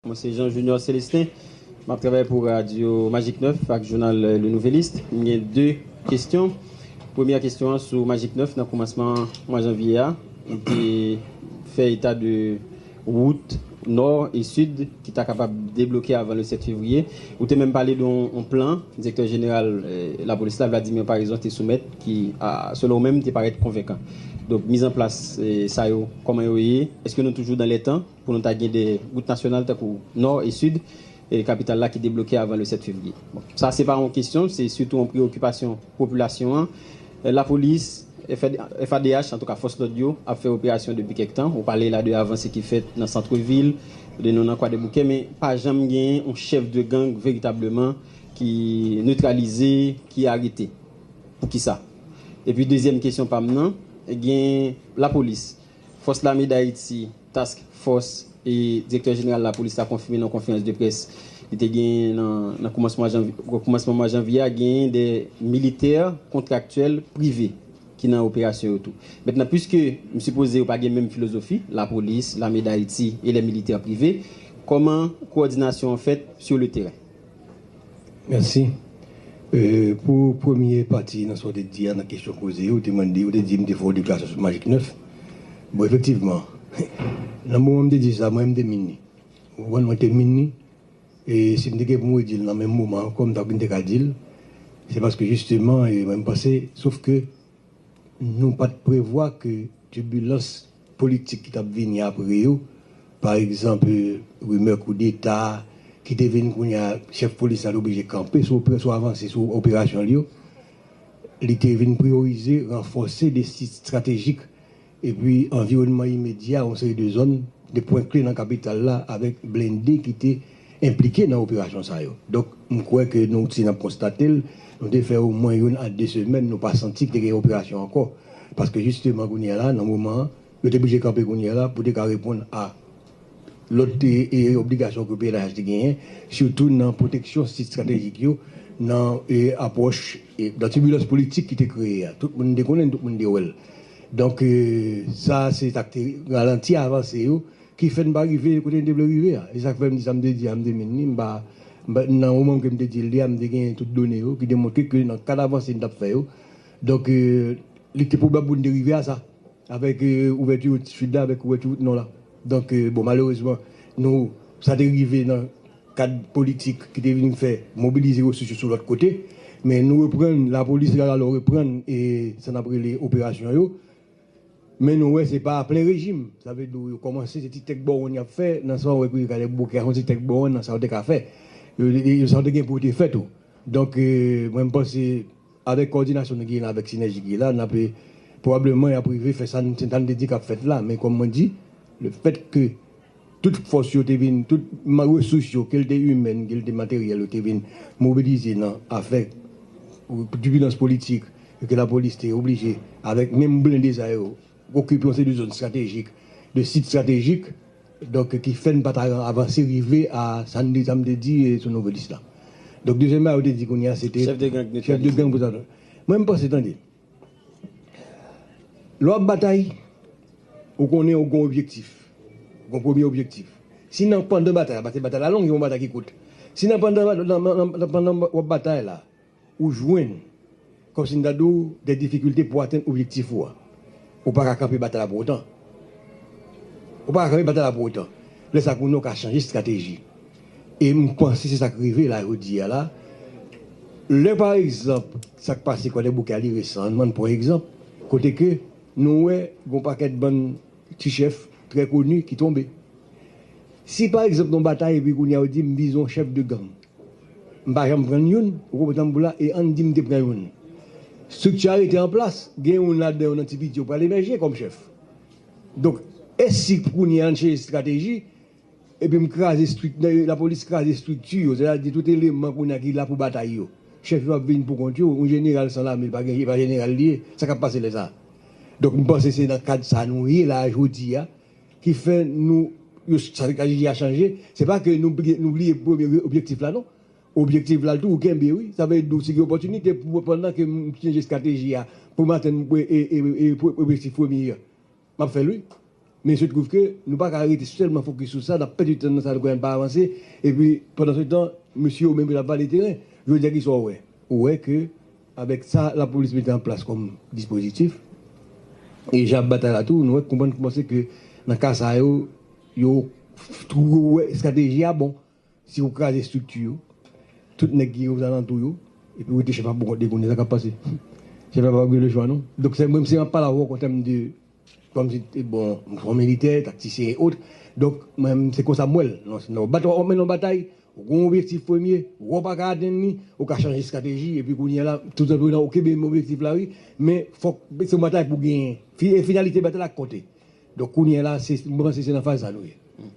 Mwen se Jean Junior Celestin, m ap travay pou radyo Magik 9 ak jounal Le Nouvelliste. M gen 2 kesyon. Premyè kesyon an sou Magik 9 nan koumansman mwa janvye a ou te fè eta de wout nò e sid ki ta kapab debloke avan le 7 fevriye. Ou te menm pale de yon plan direktè jeneral lapolis la Vladimir Paraison te soumèt ki selon ou menm te parèt konvenkan. Donk mizanplas sa yo kòman yo ye? Eske nou toujou dan lè tan? Pou nou ta gen 2 wout nasyonal tankou Nò e Sid kapital la ki debloke avan le 7 fevriye. Bon, sa se pa yon kesyon, se sitou yon preyokipasyon popilasyon an. Lapolis, FADH, antouka fòs lòd yo, ap fè operasyon depi kèk tan. Ou pale la de avanse ki fèt nan santrevil, de nou nan Kwadèboukè, men pa janm gen yon chèf de gang veritableman ki netralize, ki arete. Pou ki sa? Epi dezyèm kesyon pa m nan, gen lapolis Fòs Lame Dayiti, Task Fòs, e Direktè Jeneral Lapolis la konfime nan konferans de près li te genyen nan koumansman mwa janvye a genyen 2 militè kontraktyèl prive ki nan operasyon yo tou. Mentnan puiske m sipoze yo pa gen menm filozofi, Lapolis, Lame Dayiti e lè militè prive, kòman kowòdinasyon an fèt sou le teren? Mèsi pou premye pati nan sa w te di a nan kesyon poze yo. Ou te mande, ou te di m te fè yon deklarasyon sou majik 9. Bon efektivman, nan moman m te di sa mwen menm m te min li. Ou konprann mwen te min li e si m te gen pou m redi l nan menm moman ankò m ta konn te ka di l. Se paske jisteman mwen m panse sof ke Nou pa t prevwa ke tibilans politik ki t ap vini apre yo, pa egzanp rimè koudeta ki te vin kounye a, chèf polis la te oblije kanpe sou operasyon, avanse sou operasyon li yo. Li te vin priyorize ranfòse de sit estratejik epi anviwònman imedya yon seri de zòn, de pwen kle nan kapital la avèk blende ki te enplike nan operasyon sa yo. Donk, m kwè ke nou ti nan konstate l, nou te fè omwen youn a de semèn nou pa santi ki te gen operasyon ankò, paske jisteman kounye a la, nan moman an, yo te blije kanpe kounye a la pou te ka reponn a Lòt te obligasyon ke pnh te genyen, sitou nan pwoteksyon sit stratejik yo, nan apwòch, nan tibilans politik ki te kreye a. Tout moun te konnen l, tout moun te wè l. Donk, sa a se sa k te ralanti avanse yo, ki fè n pa rive kote n te vle rive a. Se sa k fè m di sa m te di a, m te min li, m pa, nan moman ke m te di l li a, m te genyen tout done yo ki te montre ke nan kad avanse n t ap fè yo, donk, li te pwobab pou n te rive a sa. Avèk ouvèti wout sid la, avèk ouvèti wout nò la. Donk, bon, malerezman, nou, sa te rive nan kad politik ki te vin fè mobilize resous yo sou lòt kote. Men nou reprann, lapolis la lalo reprann sa n ap rele operasyon yo. Men nou wè se pa a plen rejim. Sa vle di w yo kòmanse, se ti tèk bowonn y ap fè nan sa w wè Kouri Kalèb Bouke a, se yon ti tèk bowonn nan sa yo te ka fè. Yo, sa yo te gen pou yo te fè tou. Donk, mwen m panse. Avèk kòdinasyon nou genyen la, avèk sinèji ki la, n'ap pwobableman y'ap rive fè sa n sa n te di k'ap fèt la. Men kòm mwen di, le fèt ke tout fòs yo te vin, tout resous yo, ke l te imèn, ke l te materyèl yo te vin mobilize nan afè tibulans politik e ke lapolis te oblije avèk menm blende sa yo, okipe yon seri de zòn stratejik, de sit stratejik, donk ki fè n pa ta avanse rive a sa n te sa m te di sou Novelis la. Donk dezyèm bagay ou te di kounye a se te Chèf de gang netralize. Mwen m panse tande, lè w ap batay ou konnen ou gen yon objektif, gen yon premye objektif. Si nan pandan batay la, paske batay la long, gen yon batay ki kout, si nan pandan w ap batay la, Ou jwenn, kòm si m ta di w, dè difikilte pou w atenn objektif ou a. Ou pa ka kanpe batay la pou otan. Ou pa ka kanpe batay la pou otan. Lè sa kounye w ka chanje estrateji. E m panse se sa k rive la jodi a la. Lè pa egzanp sa k pase Kwadèboukè a li resan, ann bann pran egzanp, kote ke nou wè gen yon pakèt bann ti chèf trè koni ki tonbe. Si pa egzanp gen yon batay epi kounye a yo di m vizon chèf de gang. M pa janm pran youn. Ou konprann sa m pou la? E ann di m te pran youn. Strikti a rete an plas. Gen youn ladan yo nan ti piti yo pral emèje kòm chèf. Donk, e si kounye a ann chanje estrateji epi m kraze strik, lapolis kraze estrikti yo, sètadi tout eleman kounye a ki la pou batay yo? Chèf yo ap vin poukont yo. Yon jeneral san lame pa gen, e pa jeneral li ye. Sa k ap pase lè sa a? Donk, m panse se nan kad sa a nou ye la a jodi a. ki fè nou yo sa vle di a chanje se pa ke nou nou bliye premye objektif la non objektif la tou ou kenbe wi sa vle di ou si gen opòtinite pou pandan ke m chanje estrateji a pou m atenn objektif premye an m ap fè l wi men il se trouve ke nou pa ka rete sèlman fokis sou sa n ap pèdi tan nan sa nou konnen n pa avanse epi pandansetan mesye yo menm yo t ap vale teren jodi a kisa w wè ou wè ke Avèk sa lapolis mete an plas kòm dispozitif, e jan ap batay la tou, nou wè konprann kouman se ke nan ka sa yo, yo twouve wè estrateji a bon. Si yo kraze estrikti yo, tout nèg ki ozalantou yo, epi yo wete chèf la pou kont li konnen sa k ap pase. Chèf la pa pral gen lechwa non. Donk se mwen se map pale avè w an tèm de kòm si te bon m son militè, taktisyen e ot, donk mwen se konsa m wè l. Lè w ap mennen yon batay, Ou gen yon objektif premye, wè w pa ka atenn li, ou ka chanje estrateji epi kounye a la tout anpil nan ou kenbe menm objektif la wi men fòk se yon batay pou genyen e finalite batay la ki konte donk kounye a la se mwen panse se nan faz sa nou ye.